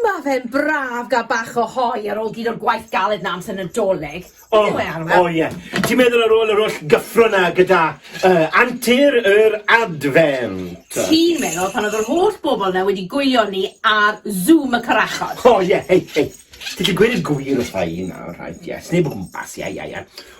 Ma fe'n braf gael bach o hoe ar ôl gyd o'r gwaith galed 'na amser Nadolig. O, Beth yw e, Arwel? o ie. Ti'n meddwl ar ôl yr holl gyffro 'na gyda uh, antur yr Advent? Ti'n meddwl pan oedd yr holl bobl 'na wedi gwylio ni ar Zoom y Corachod? O ie, hei, hei. Ti 'di gweud y gwir wrtha i nawr, rhaid, ie. Sneb o gwmpas, ie, ie, ie.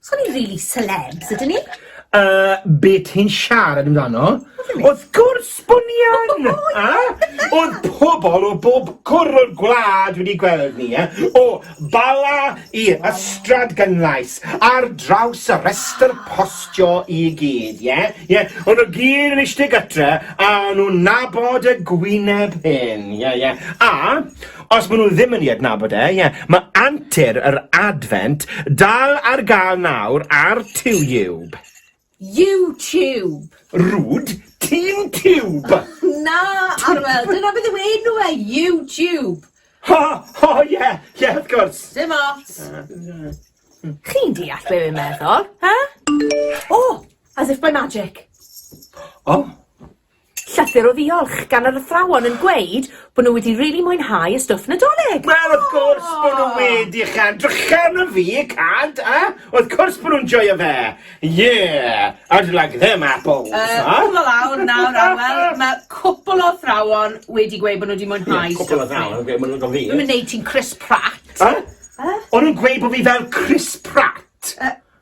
So ni rili celebs ydyn ni? Yy be ti'n siarad amdano? Wrth gwrs bo ni yn! A? O'dd pobol o bob cwr o'r gwlad wedi gweld ni e. O Bala i Ystrad Gynlais ar draws y rhestr postio i gyd ie? Ie o'n nw gyd yn ishte gytre a o'n nw'n nabod y gwyneb hen ie ie a Os maen nhw ddim yn ei adnabod e, ie, mae antur yr Adfent dal ar gael nawr ar Tiwb. YouTube! Rwd, ti'n tiwb! Na, Arwel, dyna beth yw enw e, YouTube! Ho, ho, ie, ie, wrth gwrs! Dim ots! Chi'n deall be fi'n meddwl, he? O! As if by magic. O! Llythyr o ddiolch gan yr athrawon yn gweud bod nhw wedi rili mwynhau y stwff Nadolig! Wel wrth gwrs bod nhw wedi Cân drachefn o fi, cant, a wrth cwrs bod nhw'n joio fe! Yeah! I'd like them apples! Yy, cwbl o lawr nawr a wel, ma' cwpl o athrawon wedi gweud bod nhw wedi mwynhau stwff fi. Ie, cwpl o athrawon yn gweud bod nhw'n joio fi. Dwi'm yn neud ti'n Chris Pratt. Yy? Yy? O'n nhw'n gweud bod fi fel Chris Pratt? Yy.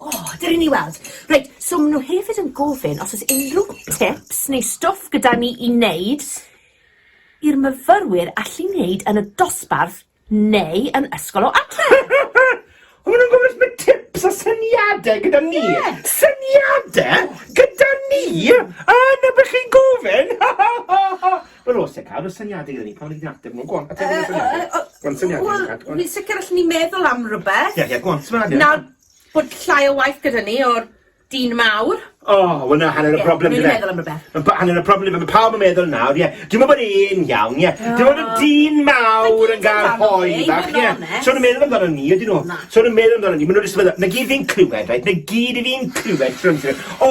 O, dyn ni'n ei weld. Reit, so maen nhw hefyd yn gofyn os oes unrhyw tips neu stwff gyda ni i wneud i'r myfyrwyr allu wneud yn y dosbarth neu yn ysgol o adre. O, maen nhw'n gofyn os mae tips a syniadau gyda ni. Ie. Syniadau gyda ni? A na beth chi'n gofyn? Wel, os ti'n cael, mae syniadau gyda ni. Pan ni'n ateb nhw, go on, ateb nhw syniadau. Go on, syniadau. Wel, ni'n sicr allan ni meddwl am rhywbeth. Ie, ie, go on, syniadau. Nawr, bod llai o waith gyda ni o'r dyn mawr. O, oh, wel na, hanner y broblem gyda. Ie, meddwl am rhywbeth. Mae hanner y broblem gyda, mae pawb yn meddwl nawr, ie. Dwi'n meddwl bod e'n iawn, ie. Dwi'n meddwl bod dyn mawr yn gael hoi bach, ie. So nhw'n meddwl amdano ni, ydyn nhw. So nhw'n meddwl amdano ni, maen nhw'n rhywbeth, na gyd fi'n clywed, reit, na gyd fi'n clywed, trwy'n trwy'n, o,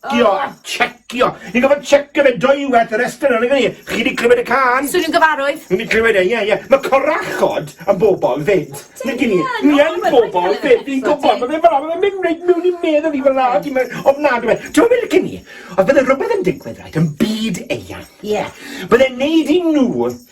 Checio a checio. Ni'n gofod checio fe dwy waith yr estyn o'n ni. Chi wedi clywed y can? Swn i'n gyfarwydd. Ni wedi clywed e, ie, ie. Mae corachod yn bobl fyd. Ni gini. Ni yn bobl fyd. Ni'n gwybod. Mae fe fel mae mynd rhaid mewn i'n medd o fi fel lad. Ti'n mynd ofnadw fe. Ti'n mynd cyn i. Oedd bydde rhywbeth yn digwydd rhaid yn byd eian. Ie. Bydde'n neud i nhw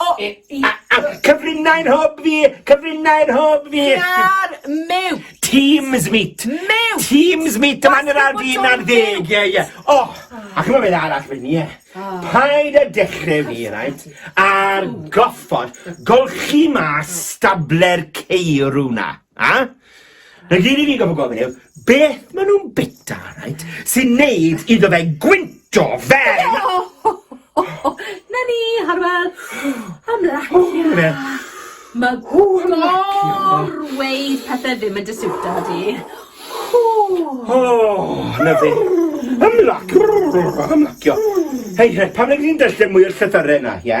O! E, i. Cyfrinau yn hob fi! Cyfrinau yn hob fi! Ar mew! Teams meet! Mew! Teams meet! Dyma ni'r ar fi na'r ddeg! Ie, ie. O! A chymod beth arall fy ni e? Paid a dechrau fi, rhaid, ar goffod golchi mas stable'r ceirw na. A? Na gyd i fi gofyn gofyn yw, beth maen nhw'n bita, rhaid, sy'n neud iddo fe gwynto fel... Na ni, Harwel, am lacio. Mae gorweud pethau ddim yn dysiwta di. O, na fi. Am lacio, am lacio. Hei, hei, pam na ni'n darllen mwy o'r llythyrau yna, ie?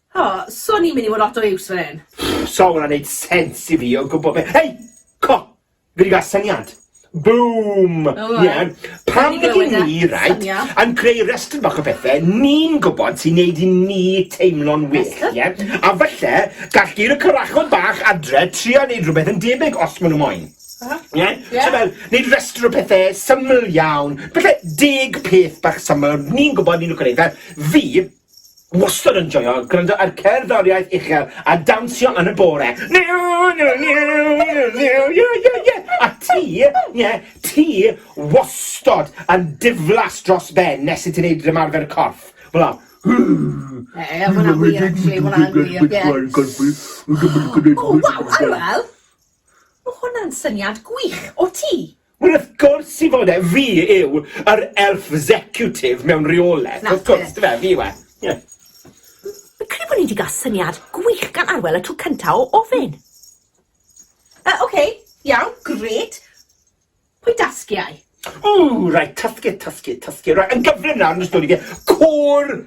O, swn i'n mynd i fod lot o iws fan hyn. Sa hwnna'n neud sens i fi o gwbl be- Hei! Co! Fi 'di ga'l syniad. Boom! O, Ie. iawn. Pam Wedi nid glywed i e. ni, right, Syniad. yn creu restr bach o bethe ni'n gwbod sy'n neud i ni teimlo'n well, Restr? ie? A falle gall gur y carachod bach adre trio neud rhywbeth yn debyg os ma' nw moyn. Aha. Ie? Ie. So fel, neud restr o pethe syml iawn, falle deg peth bach syml ni'n gwbod ni'n lico neud. Fel, fi, wastad yn joio gwrando ar cerddoriaeth uchel a dawnsio yn y bore. Niw, niw, niw, niw, niw, ie, ie, ie. A ti, ie, ti wastad yn diflas dros ben nes i ti'n neud ymarfer corff. Fel o. Ie, hwnna'n wir, actually, hwnna'n wir, ie. O, wel, wel, wel. Mae hwnna'n syniad gwych. O ti? Wel wrth gwrs i fod e, fi yw yr elf zecutif mewn reoleth, wrth gwrs, dyfe, fi yw e. Ie. Fi'n credu bod ni wedi cael syniad gwych gan Arwel y tro cyntaf o ofyn. Uh, Oce, okay, iawn, gret. Pwy dasgiau? Ww, rhaid, tasgu, tasgu, tasgu. Rhaid, yn gyflym nawr yn ystod i fi. Côr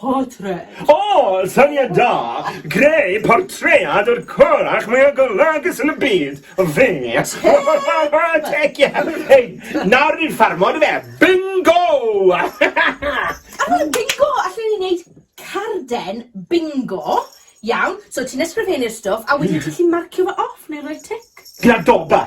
Portread. O! Syniad da! Greu portread o'r corach mwya golygus yn y byd! Fe! Tec ie! Hei, nawr ni'n ffarmo on'd yfe? Bingo! Ar bingo, allen ni wneud carden bingo. Iawn, so ti'n ysgrifennu'r stwff a wedyn ti'n gallu marcio fe off neu rhoi tic. Gyda doba!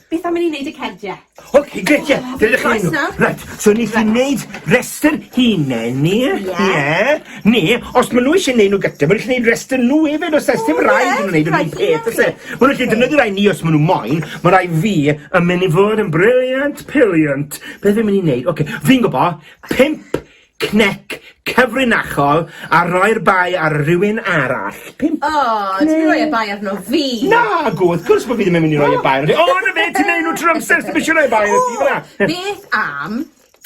Beth am i ni wneud y cerdiau? Ok, grêt, ie, dyna chi nhw. Right, so ni chi'n neud restr hunain ni, ie, ne, os maen nhw eisiau neud nhw gyda, maen nhw eisiau neud restr nhw hefyd, os ys dim rhaid nhw'n neud nhw'n peth, os e. Maen nhw eisiau defnyddio rai ni os maen nhw moyn, mae rai fi yn mynd i fod yn briliant, piliant. Beth fi'n mynd i neud? Ok, fi'n gwybod, pimp Cnec cyfrinachol a roi'r bai ar rywun arall. Pump. O, oh, ti'n rhoi y bai arno fi. Na, go, wrth gwrs bod fi ddim yn mynd i roi y bai arno fi. O, na fe, ti'n neud nhw trwy'r amser, ti'n eisiau rhoi y bai arno fi, fyna. Beth am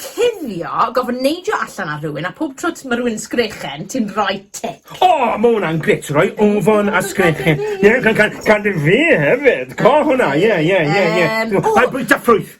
cuddio, gofyn neidio allan ar rhywun, a pob trwt mae rhywun yn sgrechen, ti'n rhoi tic. O, oh, mae hwnna'n gret, rhoi ofon a sgrechen. Ie, yeah, can, can, can, fi hefyd, co hwnna, ie, ie, ie, ie. Mae'n bwyta ffrwyth.